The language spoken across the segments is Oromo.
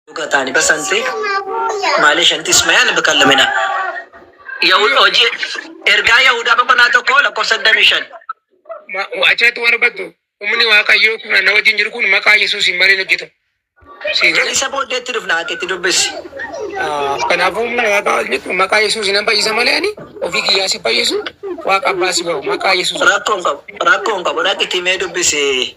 Dhugatani basante male shanti ismayan bakallamina. Yahud oji ergaa Yahudaa boqonnaa tokko lakkoofsa digdamii shan. Achirratti waan hubattu humni waaqayyoo kun na wajjin jiru kun maqaa Yesuusiin malee hin hojjetu. Siin jedhu. Isa booddeetti dhufna ati itti dubbisi. Kanaafuu humna waaqaa jechuun maqaa Yesuusiin nan fayyisa malee ani ofii kiyyaa si fayyisu waaqa abbaa si ba'u maqaa Yesuusiin. Rakkoon qabu rakkoon qabu dhaqiti mee dubbisi.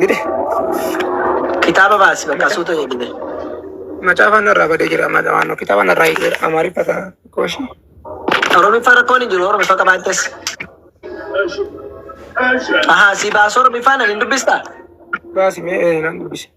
Gide. Kitaaba baasi bakka Maca- suuta jedhine. Macaafaan irraa badee jira. Macaafaan kitaabaan irraa hiikeera. Amaariffa ta'a. Kooshi. Oromiffaa rakkoon hin jiru Oromiffaa qabaattes. Ahaa si baasuu Oromiffaa nan hin dubbistaa? Baasi mee ee, nan dubbise.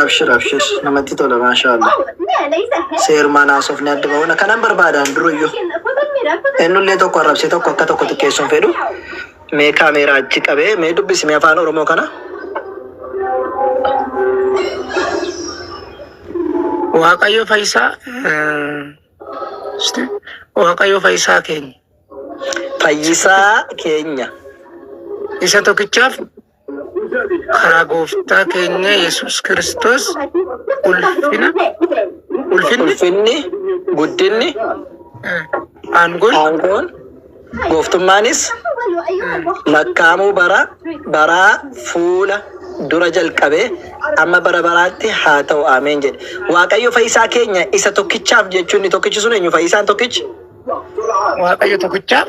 Abshir abshir namatti tola maashaa Allah. Seerumaan haasofni adda bahuna kanan barbaadaan duruyyuu. Ennullee tokko arrabsee tokko akka tokko xiqqeessuun fedhu. Mee kaameeraa achi qabee mee dubbisi mee afaan Oromoo kana. Waaqayyo fayyisaa Waaqayyo fayyisaa keenya Fayyisaa keenya. isa tokkichaaf Karaa gooftaa keenya Yesuus Kiristoos ulfina, ulfinni, Ulfinni, guddinni, aangoon, aangoon, gooftummaanis lakkaa'amuu bara baraa fuula dura jalqabee amma bara baraatti haa ta'u. Ameen jedhe. Waaqayyo Fayyisaa keenya isa tokkichaaf jechuun inni tokkichi sun eenyu? Fayyisaan tokkichi? Waaqayyo tokkichaaf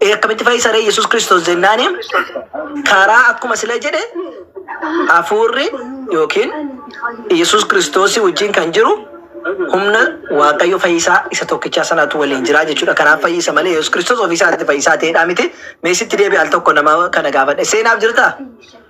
Ee akkamitti fayyisa ree Yesuus Kiristoos jennaani karaa akkuma sila jedhe hafuurri yookiin Yesuus Kiristoos wajjin kan jiru humna Waaqayyo fayyisaa isa tokkichaa sanatu waliin jiraa jechuudha. Kanaaf fayyisa malee Yesuus Kiristoos ofii isaatti fayyisaa ta'eedhaa miti. Mee sitti deebi'e al tokko nama kana gaafadhe. Seenaaf jirtaa?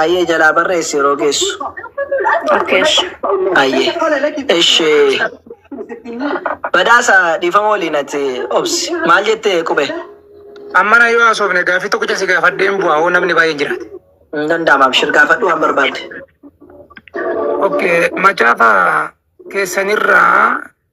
Ayyee jalaa barreessi yeroo geessu. Okay ishi. Ayyee. Ishi. Badhaasa dhiifama waliin ati obsi. Maal jette qube? Ammana yoo haasofne gaaffii tokkicha si gaafadheen bu'aa hoo namni baay'een jiraate. Hin danda'ama abshir gaafadhu waan barbaadde. Okay, macaafa keessanirraa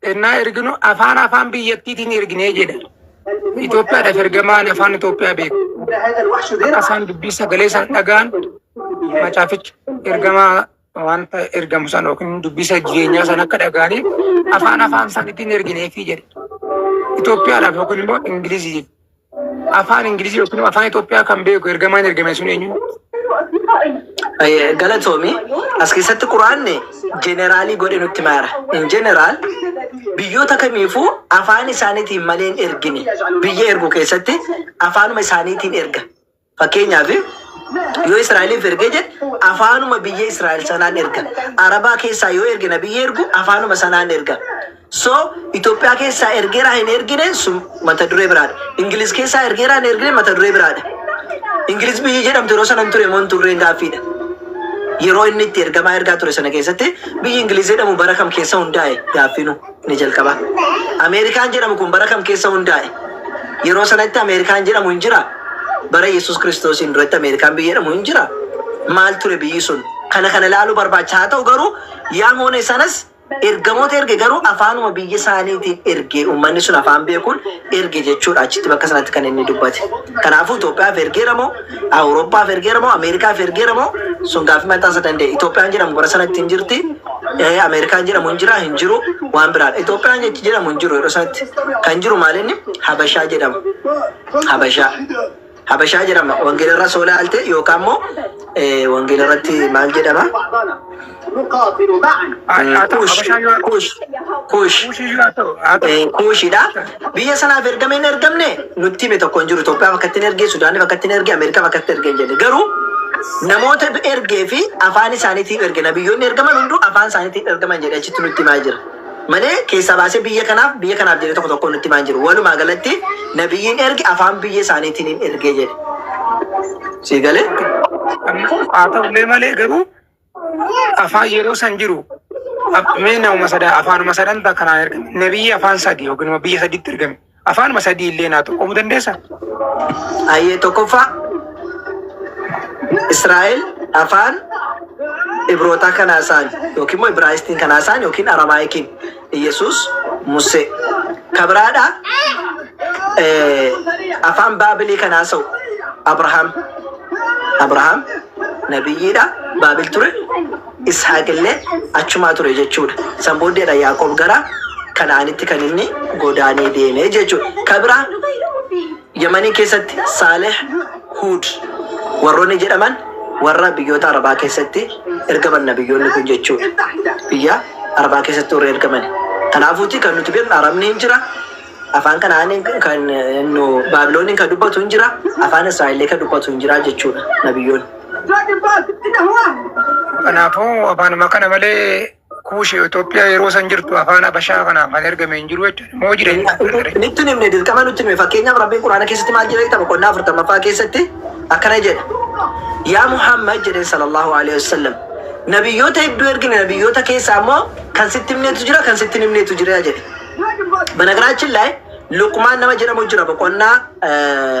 Ennaa erginu afaan afaan biyyattiitiin erginee jedha. Itoophiyaadhaaf ergamaan afaan Itoophiyaa beeku. Akka isaan dubbii sagalee isaan dhagaan macaaficha ergamaa wanta ergamu sana yookiin dubbisa jireenyaa sana akka dhagaanii afaan afaan isaaniitiin ergineefii jedha. Itoophiyaadhaaf yookiin immoo Ingiliziif Afaan Ingilizii yookiin afaan Itoophiyaa kan beeku ergamaan ergame sun eenyu? Galatoomi. As keessatti Quraanni jeneraalii godhe nutti maara. In jeneraal biyyoota kamiifuu afaan isaaniitiin malee hin ergine. Biyya ergu keessatti afaanuma isaaniitiin erga. Fakkeenyaaf yoo Israa'eliif ergee jedhe afaanuma biyya Israa'el sanaan erga. Arabaa keessaa yoo erge nabiyyi ergu afaanuma sanaan erga. So Itoophiyaa keessaa ergeeraa hin ergine sun mata duree biraadha. Ingiliz keessaa ergeeraa hin ergine mata duree biraadha. Ingiliz biyyi jedhamtu yeroo sana hin ture moo hin turreen gaaffiidha. Yeroo inni itti ergamaa ergaa ture sana keessatti biyyi Ingiliz jedhamu bara kam keessa hundaa'e gaaffiinu. Inni jalqabaa. Ameerikaan jedhamu kun bara kam keessa hundaa'e? Yeroo sanatti Ameerikaan jedhamu hin jiraa? Bara Yesus Kiristoosiin duratti Ameerikaan biyya jedhamu hin jiraa? Maal ture biyyi sun? Kana kana ilaaluu barbaachisa. Haa ta'u garuu Yaamoone sanas ergamoota erge garuu afaanuma biyya isaaniitiin erge. Uummanni sun afaan beekuun erge jechuudha achitti bakka sanatti kan inni dubbate. Kanaafuu Itoophiyaaf ergeera moo Awurooppaaf ergeera moo Ameerikaaf ergeera moo sun gaaffii mataa isa danda'e. Itoophiyaan jedhamu bara sanatti hin jirti. Eh, Ameerikaan jedhamu hin jira hin jiru waan biraadha. Itoophiyaan jechi jedhamu hin jiru yeroo sanatti kan jiru maalinni Habashaa jedhamu. Habashaa. Habashaa jedhama. Wangeela irra soo laalte yookaan immoo eh, wangeela irratti maal jedhama? نقاتل معا haa ta'u Kuush, habashaa yoo kuush, kuush, kuushii yoo ta'u haa ta'u eh, kuushidha. Biyya sanaaf ergame hin ergamne nutti hime tokko hin jiru. Itoophiyaaf akka ittiin erge, Sudaaniif akka ittiin erge, Ameerikaaf akka ittiin erge hin jenne. Garuu namoota ergee fi afaan isaaniitiif erge. Nabiyyoonni ergaman hunduu afaan isaaniitiif ergaman jedhee achitti nutti himaa jira. malee keessaa baasee biyya kanaaf biyya kanaaf jedhee tokko tokkoon nutti himaa hin jiru. Walumaa galatti nabiyyiin erge afaan biyya isaaniitiin hin ergee jedhe. Sii galee? Kanaaf haa ta'ullee malee garuu afaan yeroo san jiru mee nama sada afaanuma sadan takka naa ergame. Nabiyyi afaan sadi yookiin immoo biyya sadiitti ergame. Afaanuma sadii illee naa xurqomu dandeessa? Ayyee tokkoffaa Israa'el afaan Ibrootaa kanaa isaan yookiin immoo Ibraayistiin kanaa isaan yookiin Aramaayikiin Iyyasuus Musee kabiraadha afaan Baabilii kanaa sa'u Abrahaam Abrahaam nabiyyiidha Baabil ture Ishaaqillee achumaa ture jechuu dha. San booddee dha Yaaqoob gara Kana'aanitti kan inni godaanee deeme jechuu dha. Ka biraa Yamanii keessatti Saalih, Huud warroonni jedhaman warra biyyoota Arabaa keessatti ergaman nabiyyoonni kun jechuu dha. Biyya Arabaa keessatti warra ergaman. Kanaafuuti kan nuti beeknu Arabni hin jira, afaan Kana'aaniin kan nu Baabilooniin kan dubbatu hin jira, afaan Israa'ellee kan dubbatu hin jira jechuu dha nabiyyoonni. Kanaafuu afaanuma kana malee kuushi Itoophiyaa yeroo san jirtu afaan Habashaa kanaaf kan ergame hin jiru jechuudha. Moo jira hin jiru? Nitti himne dirqama nutti hime fakkeenyaaf rabbiin quraana keessatti maal jedha jettama qonnaa afurtammaffaa keessatti akkana jedha yaa muhammad jedheen sallallahu alaihi wasallam nabiyyoota hedduu ergine nabiyyoota keessaa immoo kan sitti himneetu jira kan sitti hin himneetu jira jedhe banagaraachin laay luqmaan nama jedhamu jira boqonnaa eh,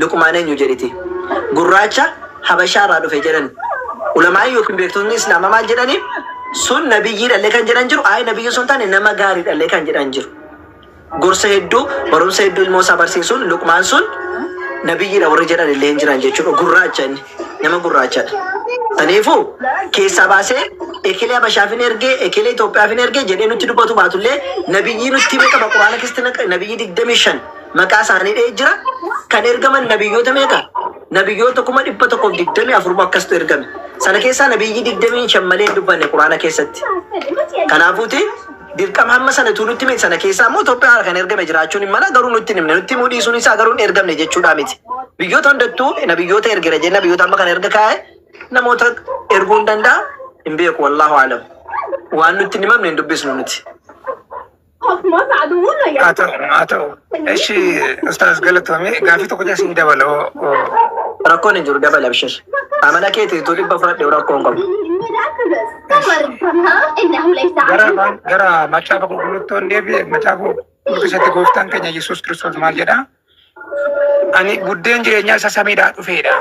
Luqmaan eenyu jedhiti? Gurraacha Habashaa irraa dhufe jedhani. Ulamaa'ii yookiin beektotni Islaama maal jedhani? Sun nabiyyiidhallee kan jedhan jiru, ayi nabiyyii osoo hin taane nama gaariidhallee kan jedhan jiru. Gorsa hedduu, barumsa hedduu ilmoo isaa barsiisuun Luqmaan sun nabiyyiidha warri jedhan illee hin jiran jechuudha. Gurraacha inni, nama gurraachadha. Kanaafuu keessaa baasee ekelee Habashaaf hin ergee, ekelee Itoophiyaaf hin ergee jedhee nutti dubbatu baatullee nabiyyii nutti hime qaba Qur'aana keessatti naqa- nabiyyii 25 Maqaa isaanii dha'ee jira. Kan ergaman nabiyyoota meeqa? Nabiyyoota 124,000 moo akkastu ergame. Sana keessaa nabiyyii 25 malee hin dubbanne Qur'aana keessatti. Kanaafuuti dirqama hamma sana utuu nutti himee sana keessaa immoo Itoophiyaa kan ergame jiraachuun hin mala garuu nutti hin himne nutti himuu dhiisuun isaa garuu hin ergamne jechuudhaa miti. Biyyoota hundattuu nabiyyoota ergera jenna biyyoota amma kan erga kaa'e namoota erguu hin danda'a hin beeku wallaahu alam. Waan nutti hin himamne hin dubbisnu nuti. haa ta'u haa ta'u eshi ustaaz galatoomee gaafii tokko jaa siin dabala rakkoon hin jiru dabala bishir amana keeti tu dhibba fudhadhe rakkoon qabu gara gara macaafa qulqulluutti on deebi'e macaafa qulqulluutti keessatti gooftaan keenya yesuus kiristoos maal jedhaa Ani buddeen jireenyaa isa samiidhaa dhufeedha.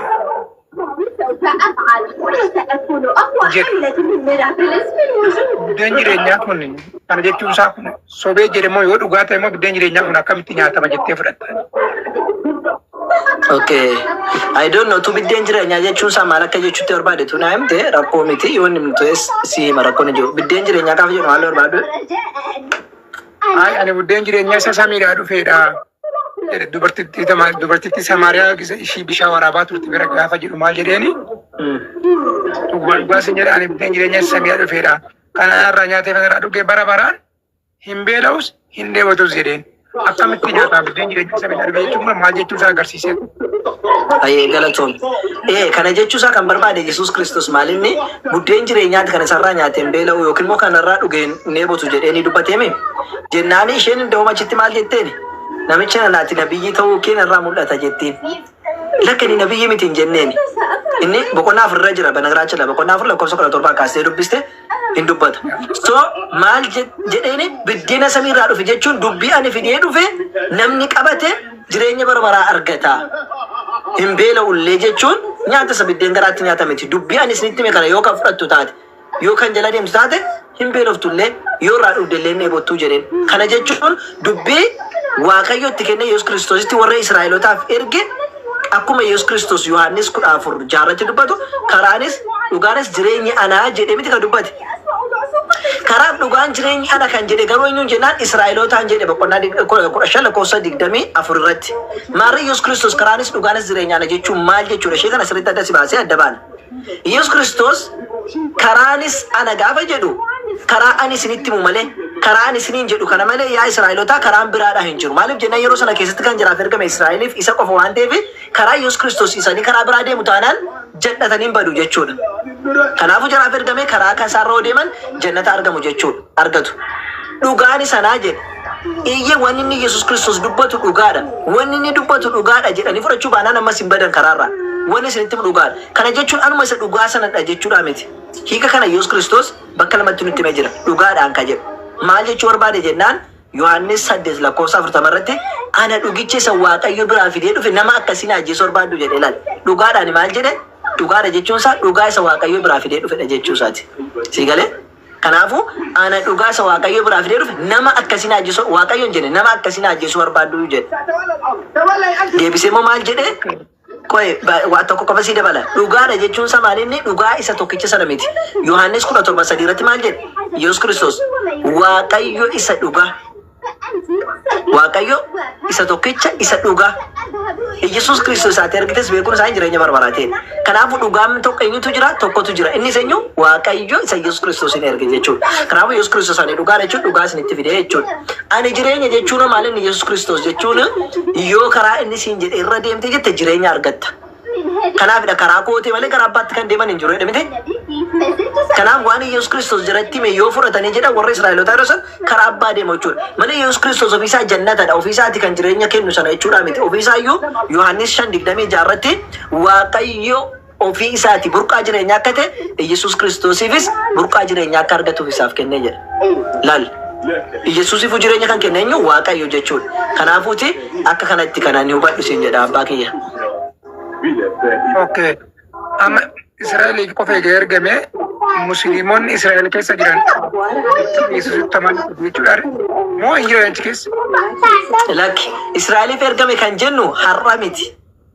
Buddeen jireenyaa kun kana jechuun isaa kun sobee jedhe moo yoo dhugaa ta'e moo buddeen jireenyaa kun akkamitti nyaatama jettee fudhatta? Okay. I don't know. Tu biddeen jireenyaa jechuun isaa maal akka jechuutti barbaade tu naa himte rakkoo miti yoo inni himtu si hima rakkoon hin jiru. Biddeen jireenyaa gaafa jedhu maal barbaadu? Ay ani buddeen jireenyaa isa samiidhaa dhufeedha. jedhe. Dubartittii tama- dubartittii Samaariyaa gisa ishii bishaan waraabaa turte bira gaafa jedhu maal jedheeni? Dhugaa dhugaa sin jedha ani buddeen jireenyaa isa samiidhaa dhufeedha. Kana irraa nyaatee kana irraa dhugee bara baraan hin beela'us hin dheebotus jedheen. Akkamitti nyaataa buddeen jireenyaa isa samiidhaa dhufe jechuun kun maal jechuu isaa agarsiisee? Ayee galatoom. Ee kana jechuu isaa kan barbaade Yesuus Kiristoos maalinni buddeen jireenyaati kan isarraa nyaate hin beela'u yookiin immoo kanarraa dhuge hin dheebotu jedhee ni dubbateemi. Jennaani isheen indahoom achitti maal jetteeni? Namichi nana ati nabiyyii ta'uu kee narraa mul'ata jettiin. Lakki ani nabiyyii miti hin jenneeni. Inni boqonnaa afur irra jira banagiraachila boqonnaa afur lakkoofsa kudha torbaa kaastee dubbiste hin dubbata. So maal jedheeni biddeena samii irraa dhufe jechuun dubbii ani fidee dhufe namni qabate jireenya bara baraa argata. Hin beela ullee jechuun nyaata isa biddeen garaatti nyaata miti. Dubbii ani isinitti hime kana yoo kan fudhattu taate yoo kan jala deemtu taate hin beeloftu illee yoo irraa dhugde illee hin dheebottuu jedheen. Kana jechuun dubbii Waaqayyo itti kenne Yesuus Kiristoositti warra Israa'elotaaf erge Akkuma Yesus Kristos Yohannis 14, 6 irratti dubbatu, karaanis, dhugaanis, jireenyi ana jedhe miti kan dubbate. Karaaf dhugaan jireenyi ana kan jedhe garuu eenyuun jennaan Israa'elootaan jedhe boqonnaa 15 lakkoofsa 24 irratti. Maarree Yesus Kristos karaanis, dhugaanis, jireenyi ana jechuun maal jechuudha ishee kana sirriitti adda si baasee adda baana. Yesus Kiristoos karaanis ana gaafa jedhu karaa ani isinitti himu malee karaa ani isiniin jedhu kana malee yaa Israa'elotaa karaan biraadhaa hin jiru. Maaliif jennaan yeroo sana keessatti kan jiraaf ergame Israa'eliif isa qofa waan ta'eef karaa Yesus Kiristoos isanii karaa biraa deemu taanaan jal'atanii hin badu jechuudha. Kanaafuu jaraaf ergame karaa kan isaarra yoo deeman jannata argamu jechuudha argatu. Dhugaan sanaa jedhe. Eeyyee, wanni inni Yesus Kristos dubbatu dhugaa dha. Wanni inni dubbatu dhugaa dha jedhanii fudhachuu baanaan ammas hin badan karaa irraa. Wanni isinitti himu dhugaa dha. Kana jechuun anuma isa dhugaa sana dha jechuu dhaa miti. Hiika kana Yesus Kristos bakka lamatti nutti himee jira, dhugaa dhaan ka jedhu. Maal jechuu barbaade jennaan, Yohaannis 8 lakkoofsa 40 irratti, Ana dhugicha isa Waaqayyo biraa fidee dhufe nama akkasii na ajjeesuu barbaaddu jedhe. Ilaali, dhugaa dhaan maal jedhe? Dhugaa dha jechuun isaa dhugaa isa Waaqayyo biraa fidee dhufe dha jechuu isaa ti. Sii galee? Kanaafu ana dhugaasa waaqayyo biraa fidee dhufe nama akkasi na ajjesu waaqayyo hin jene nama akkasi na ajjesu barbaaddu jedhe. Deebisee immoo maal jedhe qoye ba- waa tokko qofa sii dabala dhugaadha jechuun isaa maal inni dhugaa isa tokkicha sana miti. Yohaannis kudha torba sadii irratti maal jedhe Yesuus Kiristoos waaqayyo isa dhugaa Waaqayyo isa tokkicha isa dhugaa Iyyasuus Kiristoos isaati ergites beekuun isaanii jireenya bara baraa ta'e. Kanaafuu dhugaan tokko eenyutu jira? Tokkotu jira. Innis eenyu? Waaqayyo isa Iyyasuus Kiristoosiin erge jechuudha. Kanaafuu Iyyasuus Kiristoos ani dhugaa jechuun dhugaa isinitti fide jechuudha. Ani jireenya jechuun maal inni Iyyasuus Kiristoos jechuun yoo karaa inni siin jedhe irra deemte jette jireenya argatta. Kanaafidha karaa kootee malee karaa abbaatti kan deeman hin jiru jedhe miti. Kanaaf waan Iyyasuus Kiristoos jiratti hime yoo fudhatanii jedhan warra Israa'elotaa yeroo san karaa abbaa deema jechuudha. Malee Iyyasuus Kiristoos ofiisaa jannatadha, ofiisaati kan jireenya kennu sana jechuudhaa miti. Ofiisaayyuu Yohaannis 5:26 irratti Waaqayyo ofii isaati burqaa jireenyaa akka ta'e Iyyasuus Kiristoosiifis burqaa jireenyaa akka argatuuf isaaf kenne jedha. Lal. Iyyasuusiifuu jireenya kan kenne eenyu? Waaqayyo jechuudha. Kanaafuuti akka kana itti kan ani hubadhu siin jedha abbaa kiyya. Ok. Amma Israa'eliif qofa egaa ergame musliimonni Israa'el keessa jiran ittiin Yesuusitti amanuu qabu jechuudha. Moo hin jiran achi keessa? Lakki. Israa'eliif ergame kan jennu har'a miti.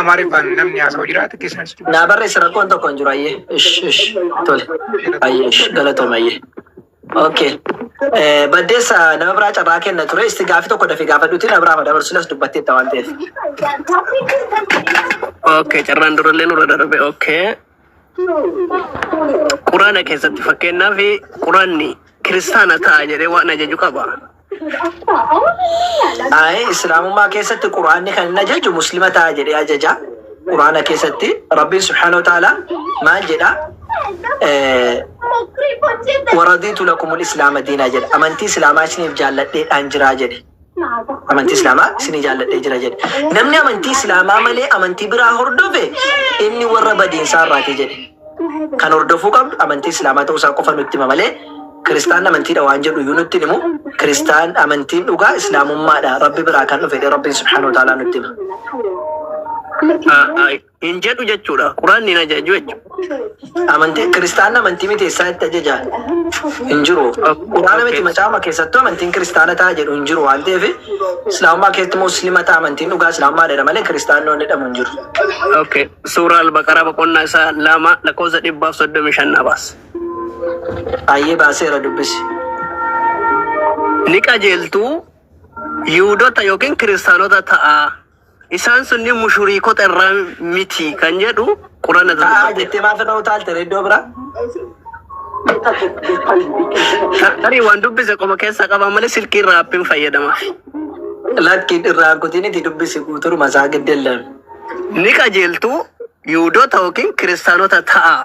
Amaariffaan namni haasa'u jiraate keessan situ. Naa barreessi rakkoon tokko hin jiru ayyee. Ish ish tole. Ayyee ish galatoom ayyee. Okay. Eh, Baddeessa nama biraa carraa kenna ture isti gaafii tokko dafii gaafadhuutiin na biraa dabarsuunas dubbatteetta waan ta'eef. Okay, carraan durallee nurra darbe. Okay. Quraana keessatti fakkeenyaaf quraanni kiristaana ta'a jedhee waan ajaju qaba. Ayi islaamummaa keessatti quraanni kan hin ajaju muslima ta'a jedhee ajaja. Quraana keessatti rabbiin subhaanahu wa ta'ala maal jedha? Waradiitu lakumul islaama diinaa jedha. Amantii islaamaa isiniif jaalladheedhaan jiraa jedhe. Amantii Islaamaa isinii jaalladhee jira jedhe. Namni amantii Islaamaa malee amantii biraa hordofe inni warra badiinsaa irraati jedhe. Kan hordofuu qabdu amantii Islaamaa ta'uu isaa qofa nutti hima malee Kiristaan amantiidha waan jedhu iyyuu nutti hin himu. Kiristaan amantiin dhugaa Islaamummaadha Rabbi biraa kan dhufe jedhee Rabbiin Subhaanahu wa Ta'aalaa nutti hima. hin jedhu jechuudha. Quraanni hin ajaju jechuudha. Amantii kiristaanni amantii miti eessaa itti ajaja hin jiru. Quraana miti macaafuma keessattuu amantiin kiristaana ta'a jedhu hin jiru waan ta'eef islaamummaa keessatti muslima ta'a amantiin dhugaa islaamummaa jedha malee kiristaannoon jedhamu hin jiru. Okay. Suuraa Al-Baqaraa boqonnaa isaa lama lakkoofsa dhibbaaf soddomii shan naa baas. Ayyee baaseera dubbisi. Ni qajeeltuu Yihuudota yookiin kiristaanota ta'aa. Isaan sunniin mushuriikota irraa miti kan jedhu Qur'aana irra Ta'aa dubbate. jettee maaf irra utaalte ree iddoo biraa? Tarii waan dubbise qoma keessaa qaba malee silkii irraa appiin fayyadama. Lakkiin irraa kutiin itti dubbisi guuturuma isaa giddellan. Ni qajeeltu Yihudoota yookiin Kiristaanota ta'a.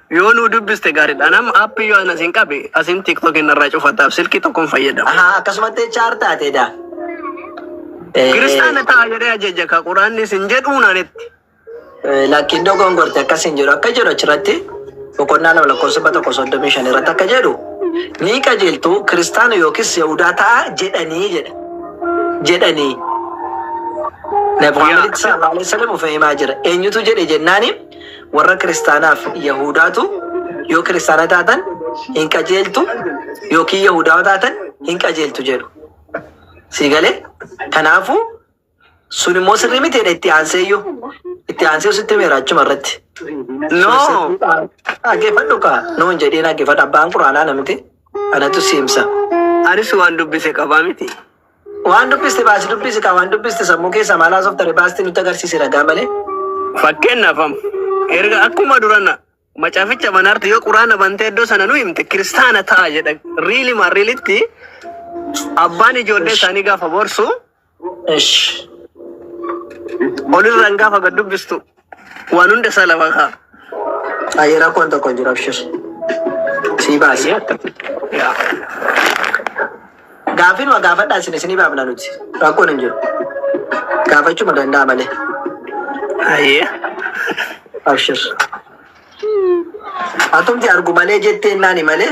Yoo nuu dubbiste gaariidha. Anam app yoo anas hin qabe asin tiktok hin irraa cufataaf silkii tokkon fayyadama. Ahaa akkasumatti HR taate daa. Eh, Kiristaana ta'a jedhee ajaja ka quraanni sin jedhuu naanitti. eh, Lakkiin dogongorte akkas hin jedhu akka jedhu achirratti boqonnaa lama lakkoofsa dhibba tokko soddomii shan irratti akka jedhu ni qajeeltu kiristaana yookiis yahudaa ta'a jedhanii jedha. Jedhanii. Nabi Muhammaditti sallallahu alaihi wasallam of himaa jira. Eenyutu jedhe jennaaniin Warra kiristaanaaf Yahudaatu yoo kiristaana taatan hin qajeeltu yookiin Yahudawa taatan hin qajeeltu jedhu. Sii galee? Kanaafuu sun immoo sirrii miti jedhe itti aanseeyyuu. Itti aansee sitti meera achuma irratti. No! Dhaggeeffadhu kaa! No hin jedhiin dhaggeeffadhu. Abbaan quraanaa na miti. Anatu si himsa. Anis waan dubbise qabaa miti. Waan dubbiste baasi dubbisi kaa waan dubbiste sammuu keessa maal haasoftare baasti nutti agarsiisi ragaa malee. Fakkeenyaaf am erga akkuma durana macaaficha banaarti yoo quraana bantee iddoo sana nu himte kiristaana ta'a jedha riili maarriilitti abbaan ijoollee isaanii gaafa borsu Ish. olirraan gaafa gad dubbistu Waan hunda isaa lafa kaa. Ayi rakkoon tokko hin jiru abshir. Sii baasi. Yaa. Gaaffiin waa gaafadhaa isin isinii baafna nuti. Rakkoon hin jiru. Gaafachuma danda'a malee. Ayyee. Abshir. Atumti argu malee jettee naani malee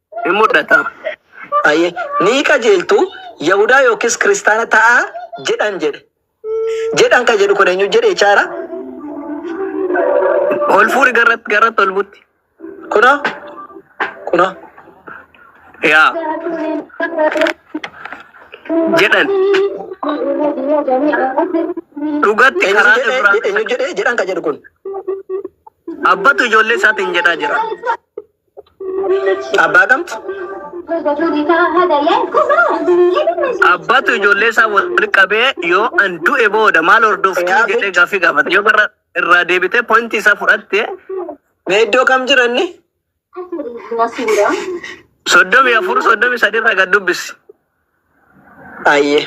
Hin mudhata. Hayyee. Ni qajeeltu, Yahudaa yookiis kiristaana ta'aa jedhan jedhe. Jedhan kan jedhu kun eenyu jedhe jechaadha? Ol fuudhi garratti garratti ol butti. Kunoo. Kunoo. Yaa. Jedhan. Dhugatti Eenyu karaa jedhe Ibraahiim eenyu jedhe jedhan kan jedhu kun. abbatu ijoollee isaatiin jedhaa jira. Abbaa kamtu? Abbatu ijoollee isaa walitti qabee yoo an du'e booda maal hordoftu jedhee gaaffii gaafata. Yoo gara irraa deebitee pointii isaa fudhatte Mee iddoo kam jiranni? soddomii afur soddomii sadii irraa gad dubbisi. Ayyee.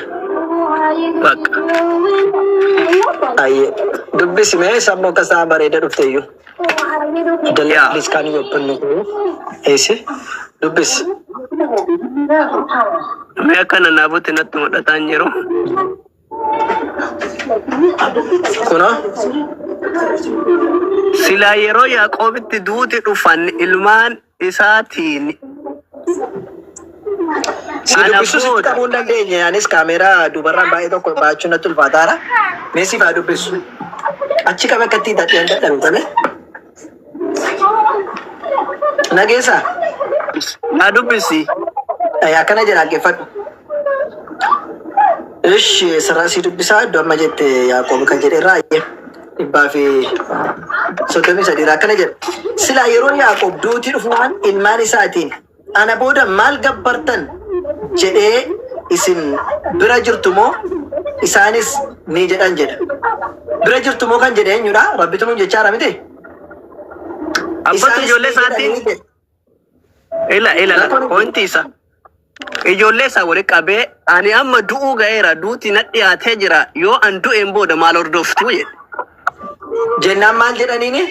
Bakka. Ayyee. Dubbisi mee sammuu akka isaa bareeda dhufteeyyu. Dalii Yeah. please can you open the door? Eessi? Dubbisi. Mee akka nanaabutti natti mul'ataa hin jiru. Kunoo. Silaa yeroo Yaaqoobitti duuti dhufan ilmaan isaatiin Si Ana dubbisuu sitti booda. qabuu hin dandeenye. Anis kaameeraa dubarraan baay'ee tokko baachuu natti ulfaataara. Mee siif haa dubbisu. Achi qaba akka ittiin taphee hin dadhabe tole. Nageessaa? na dubbisi. Eh, Akkana jedha dhaggeeffadhu. Ishi sirraa sii dubbisaa iddoo amma jette Yaaqoob kan jedhe irraa ayyee dhibbaa fi soddomii sadii irraa akkana jedha. Silaa yeroo Yaaqoob duuti dhufumaan ilmaan isaatiin ana booda maal gabbartan jedhee isin bira jirtu moo isaanis ni jedhan jedha. Bira jirtu moo kan jedhe eenyudha? Rabbitu nuun jechaa jira miti? Abbatu Isaanis ijoollee ni jedhan isaatiin ni jedhe. Ila ila ila pointi isa ijoollee isaa wali qabee ani amma du'uu ga'eera duuti na dhiyaatee jira yoo an du'een booda maal hordoftu jedhe. Jennaan maal jedhaniini?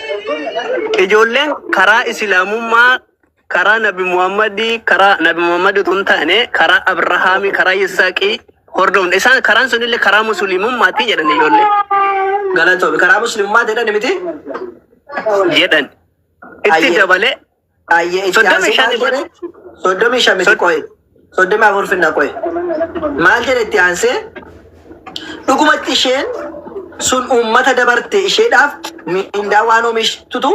Ijoolleen karaa islaamummaa karaa nabi Muhammadii karaa nabi Muhammadii utuu hin taane karaa Abrahaamii karaa Yisaaqii hordofne isaan karaan sunillee karaa musliimummaati jedhan ijoollee Galatoomi. Karaa musliimaa jedhani miti? jedhan. itti Ayyee. dabalee Ayyee itti Soddomii aansee shan maal irratti- jedhe? Soddomii shan miti qo'e. Soddomii afur finna qo'e. Maal jedhe itti aansee? Dhugumatti isheen sun uummata dabarte isheedhaaf miindaa waan oomishtutu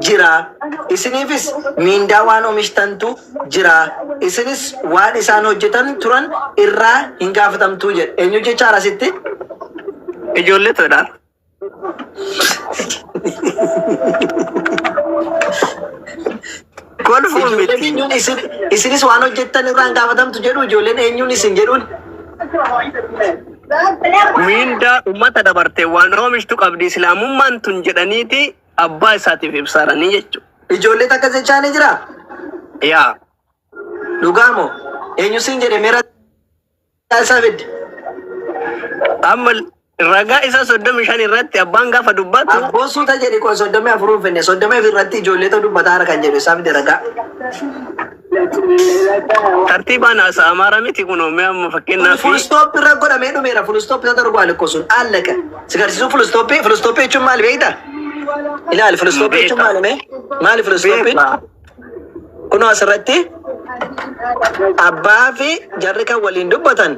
jira. Isiniifis miindaa waan oomishtantu jira. Isinis waan isaan hojjetan turan irraa hin gaafatamtuu jedhe. Eenyu jechaadha asitti? ijoollee tola. Kolfuun miti. Eenyuun isin isinis waan hojjettan irraan gaafatamtu jedhu ijoolleen eenyuun isin jedhuun. Miindaa uummata dabarte waan oomishtu qabdi islaamummaan tun jedhaniiti abbaa isaatiif ibsaaranii jechuudha. Ijoollee takka jechaa ni jira. Yaa. Dhugaa moo? Eenyu siin jedhe meera. isaa fidde. Amma ragaa isaa soddomii shan irratti abbaan gaafa dubbatu Abboo suuta jedhi qoy soddomii afur hin finne soddomii afur irratti ijoollee ta'u dubbataa harka hin jedhu isaa fidde ragaa. tartiibaan haasa amaaraa miti kun mee amma Kun fakkeenyaaf full stop irra godhamee dhumeera full stop isa darbu alikko sun allaka. Si garsiisuu full stop full stop jechuun maali beekta? Ilaali full stop jechuun maali mee? Maali full stop? Kunoo asirratti abbaa fi jarri kan waliin dubbatan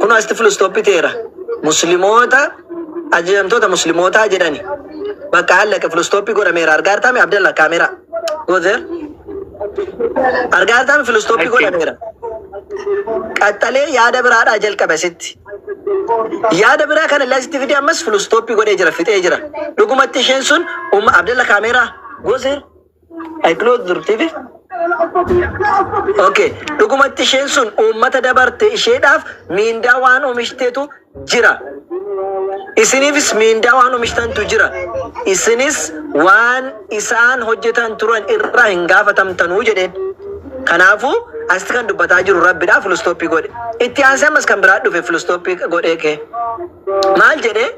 kunoo asitti filistooppi ta'eera. Muslimoota ajajamtoota muslimootaa jedhani. Bakka hallaqe filistooppi godhameera. Argaa jirtaami Abdalla kaameeraa. Goozeer. Argaa jirtaami filistooppi Achi. godhameera. Qaxxalee yaada biraadhaa jalqabe asitti. Yaada biraa kana illee asitti fidee ammas filistooppi godhee jira fixee jira. Dhugumatti isheen sun umma Abdalla kaameeraa. Goozeer. I close dur TV. Okay. Dhugumatti isheen sun uummata dabarte isheedhaaf miindaa waan oomishiteetu jira. Isiniifis miindaa waan oomishtantu jira. Isinis waan isaan hojjetan turan irraa hin gaafatamtanuu jedheen. Kanaafuu asitti kan dubbataa jiru rabbidhaa filistooppii godhe. Itti aansee ammas kan biraa dhufe filistooppii godhee kee. Maal jedhee?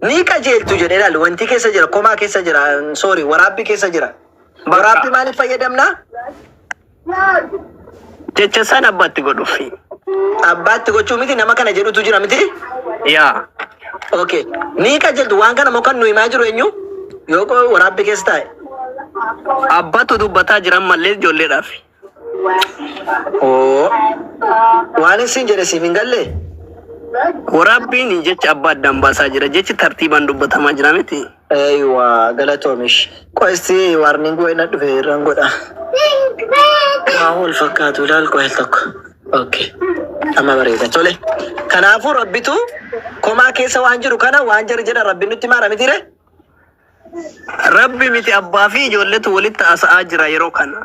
Ni qajeeltu jedhe ilaali wanti keessa jira komaa keessa jira sorry waraabbii keessa jira Bakka. waraabbii maaliif fayyadamna Jecha san abbatti godhufi. abbaatti gochuu miti nama kana jedhutu jira miti Yaa. okay ni qajeeltu waan kana moo kan nu himaa jiru eenyu yoo qo- waraabbii keessa taa'e Abbatu dubbataa jiran mallee ijoolleedhaaf. Oo, waanin siin jedhe siif hin galle? Waraabbiin jecha abbaa addaan baasaa jira. Jechi tartiibaan dubbatamaa jira miti. Eeywa, galatoomish. Qoy isti warning wayii na dhufe irran godha. Kaa wal fakkaatu ilaal qoy al tokko. Okay. Amma bareeda. Tole. Kanaafuu rabbitu komaa keessa waan jiru kana waan jari jedha rabbi nutti maara mitiire? Rabbi miti abbaa fi ijoolletu walitti haasa'aa jira yeroo kana.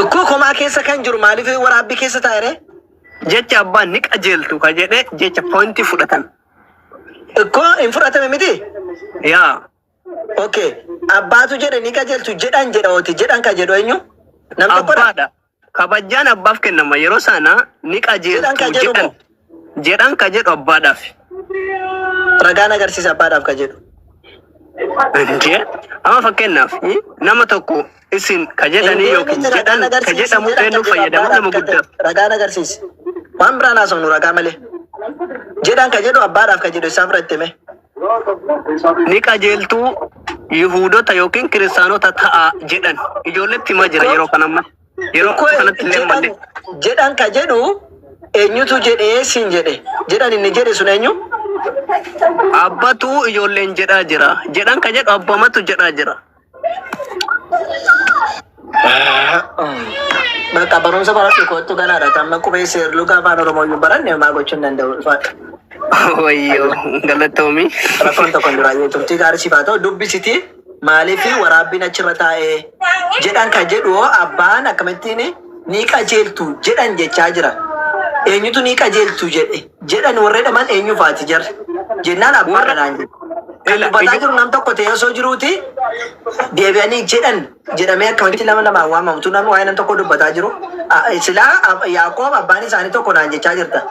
Ikkoo komaa keessa kan jiru maaliif waraabbii keessa taa'ere? Jecha abbaa ni qajeeltu ka jedhe jecha pointii fudhatan. Ikkoo hin fudhatame miti? Yaa. Okay. Abbaatu jedhe ni qajeeltu jedhan jedha oti jedhan ka jedhu eenyu? Nam tokkodha? Abbaadha. Kabajjaan abbaaf kennama yeroo sana ni Jedhan ka qajeeltu jedhu jedhan moo? jedhan ka jedhu abbaadhaaf. Ragaan agarsiisa abbaadhaaf ka jedhu. Jee amma fakkeenyaaf i, nama tokko isin ka Hin jedhanii deemne yookiin ragaan jedhan ka agarsiisi jedhamu jedhan ka eenyu jedhu fayyadama abbaadhaaf nama ka guddaaf. jedhu. Ragaan agarsiisi. Waan biraan haasofnu ragaa malee. Jedhan ka jedhu abbaadhaaf ka jedhu isaaf irratti hime. ni qajeeltu Yihuudota yookiin kiristaanota ta'a jedhan ijoolletti himaa jira yeroo kana amma yeroo Ko kanatti illee jedhan malee jedhan ka jedhu eenyutu jedhee siin jedhe jedhan inni jedhe sun eenyu? abbatu ijoolleen jedhaa jira jedhan ka jedhu abbamatu jedhaa jira Bakka barumsa baradhu kottu ganaadha. Tamma qubee seerluu gaafa afaan Oromoo iyyuu baranne homaa gochuu hin danda'u. Ulfaadha. Wayyoo galatoomi. Rakkoon tokko hin duraayyuu turtii gaarii siif haa ta'u. Dubbisiti maaliif waraabbiin achirra taa'ee jedhan kan jedhu hoo abbaan akkamittiin ni qajeeltu jedhan jechaa jira. Eenyutu ni qajeeltu jedhe? jedhan warra jedhaman eenyu faati jarri jennaan abbaa Warra- kanaan jedhu. Kan Ila- dubbataa ija- jiru nam tokko ta'ee osoo jiruuti deebi'anii jedhan jedhamee akkamitti lama lamaan waamamtu namni waa'ee nam tokko dubbataa jiru. A- Silaa ab- Yaaqoob abbaan isaanii tokko naan jechaa jirta.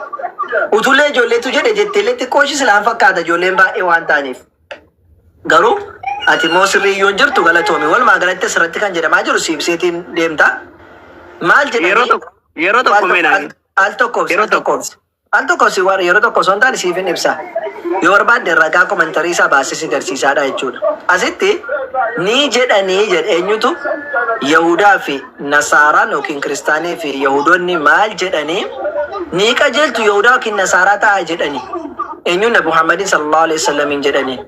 Utulee ijoolleetu jedhe jetteellee xiqqoo ishii silaan fakkaata ijoolleen baay'ee waan ta'aniif. Garuu ati immoo sirrii yoo hin jirtu galatoomi. Walumaa galatti asirratti kan jedhamaa jiru siibseetiin deemta. Maal jedhanii? Yeroo tokko yeroo tokko meenaan Al tokkoof yeroo tokkoof. Al tokko si war yeroo tokko osoo hin taane siifin ibsa. Yoo barbaadde ragaa komentarii isaa baasee si garsiisaadha jechuudha. Asitti ni jedhanii jedhe eenyutu Yahudaa fi Nasaaraan yookiin Kiristaanii fi Yahudoonni maal jedhanii ni qajeeltu Yahudaa yookiin Nasaaraa ta'a jedhanii eenyuun Nabi Muhammadiin sallallahu alaihi wasallamiin jedhanii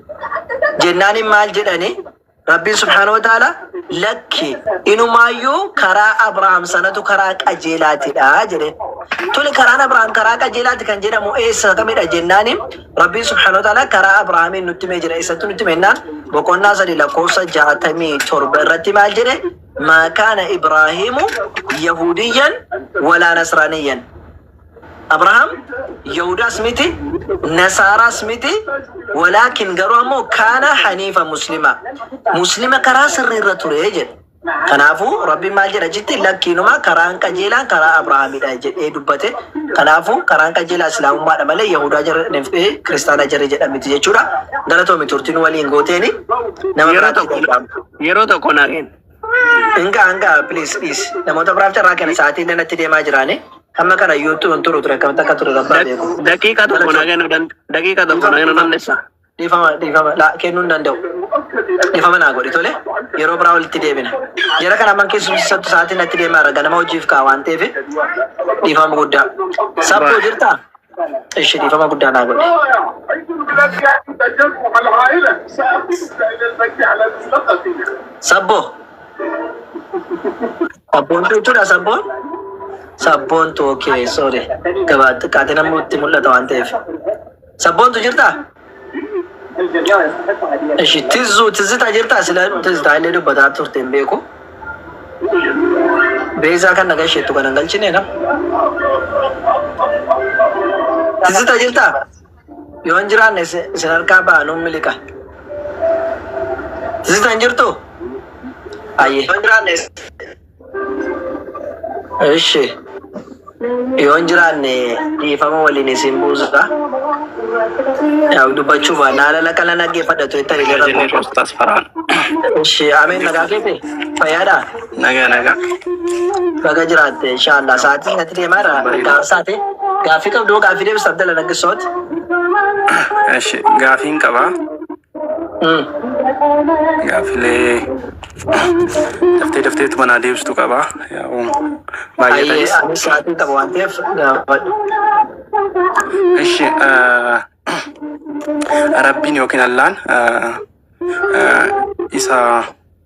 jennaaniin maal jedhanii Rabbiin subhaanahu wa ta'ala lakki inumaayyuu karaa Abrahaam sanatu karaa qajeelaatidha jedheen. Tole karaan Abrahaam karaa qajeelaati kan jedhamu eessa kamidha jennaani Rabbiin subhaanahu wa ta'ala karaa Abrahaamiin nutti himee jira. Eessatti nutti hime jennaan boqonnaa sadii lakkoofsa jaatamii torba irratti maal jedhe maa kaana Ibraahiimu Yahudiyyan walaa Nasraaniyyan Abrahaam Yahudaas miti, Nasaaraas miti, walaakin garuu ammoo kaana haniifa muslima. Muslima karaa sirrii irra ture jedhe. Kanaafuu Rabbiin maal jedha jetti lakkiinuma karaan qajeelaan karaa Abrahaamidha jedhee dubbate. Kanaafuu karaan qajeelaa Islaamummaadha malee Yahudaa jarri fi Kiristaana jarri jedhan miti jechuudha. Galatoomi turtiin waliin gooteeni nama Yeroo biraatti tokko dhaga'amu. yeroo tokko na kenna. Hinga hanga please dhiis. Namoota biraaf carraa kenna sa'aatiin inni natti deemaa jiraane. Hamma kana YouTube hin turu ture akkamitti akka ture rabbaa beeku. Daqiiqa tokko na kennu dan- daqiiqa tokko na kennu dandeessa. Dhiifama dhiifama laa kennuu hin danda'u. Dhiifama naa godhi tole. Yeroo biraa walitti deebina. Jara kana amman keessumsiisattu sa'aatiin natti deemaa jira ganama hojiif ka'a waan ta'eef dhiifama guddaa. Sabboo jirtaa? Ishi dhiifama guddaa naa godhe. Sabboo. Sabboontuu jechuudha sabboon. Sabboontu okay sorry. Gabaa xiqqaatiin ammoo itti mul'ata waan ta'eef. Sabboontu jirtaa? Ishi tizzu tizzita jirta sila tizzita illee dubbataa turte hin beeku. Beezaa kan nagaa isheettu kan hin galchine na. Tizzita jirta yoo hin jiraanne isin isin harkaa ba'a nuun miliqa. Tizzita hin jirtu? Ayyee. Ishi yoon jiraanne dhiifama waliin isin buusuudha. Yaa dubbachuu baannaa haala laqa na dhaggeeffadha tu itti Nagaa jennee hiriira Ustaas Farhaan. Ishi ameen nagaa keeti fayyaadha. Nagaa nagaa. Baga jiraatte inshaallah sa'aatii natti deemaa jira gaafsaati. Gaaffii qabdu gaaffii deebisa Abdalla Naggisooti. Ishi gaafiin qabaa. Gaafilee daftee dafteetu manaa deebistu qaba. Yaa'u baay'atanis. Ani sa'aatiin qaba waan ta'eef gaafadhu. Ishi rabbiin yookiin allaan isa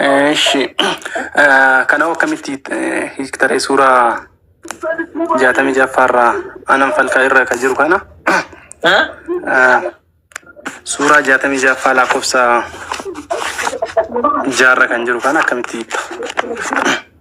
Eshi kana akkamitti eh, hiiktaree suuraa jaatamii jaffaarraa anan falkaa irra ka jiru kana eh, suuraa jaatamii jaffaa lakkoofsa jaarra kan jiru kana akkamitti hiikta?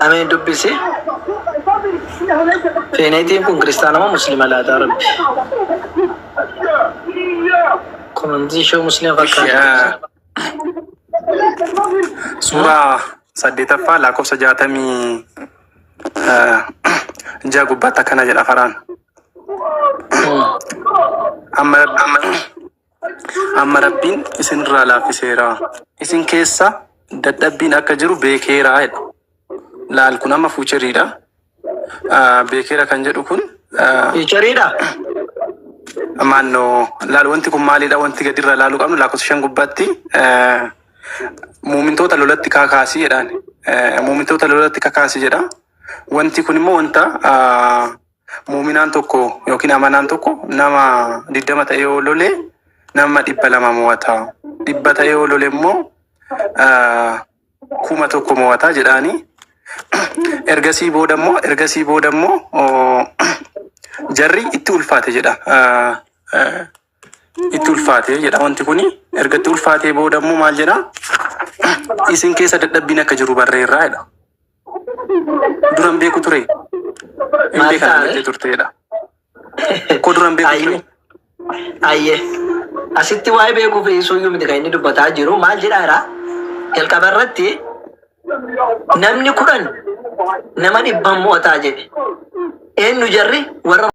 Ameen dubbisi. Feeneetiin kun kiristaana moo musliima laataa rabbi? Komantiin ishee musliima fakkaata. Suuraa saddeetaffaa lakkoofsa jaatamii ja'a gubbaatti akkana jedha faraan. Amma Amma Rabbiin isinirraa laaffiseera. Isin keessa dadhabbiin akka jiru beekeera jedha. Laal kun amma fuucheriidha. Ah, Beekeera kan jedhu kun ah, Fiichariidha. maannoo laal wanti kun maalidha wanti gadirraa laaluu qabnu lakkoofsa shan gubbaatti eh, muumintoota lolatti kakaasi jedhaan Eh, muumintoota lolatti kakaasi jedha wanti kun immoo wanta ah, Mu'uminaan tokko yookiin amanaan tokko nama 20 ta'ee yoo lole nama 200 mo'ata. 100 ta'ee yoo lole immoo ah, kuma tokko mo'ata jedhaani. Ergasii booda immoo ergasii booda immoo oh, jarri itti ulfaate jedha. Ah, ah, Itti ulfaate jedha wanti kuni. Erga itti ulfaatee booda immoo maal jedha? Isin keessa dadhabbiin akka jiru barreerraa jedha. Duran beeku ture. Maal taa'e? turteedha. Koo duran beeku ture. Ayyee. Asitti waa'ee beekuu fi suuyyuu miti kan inni dubbataa jiru maal jedhaa jira? Jalqaba irratti namni kudhan nama dhibban mo'ataa jedhe. Eenyu jarri warra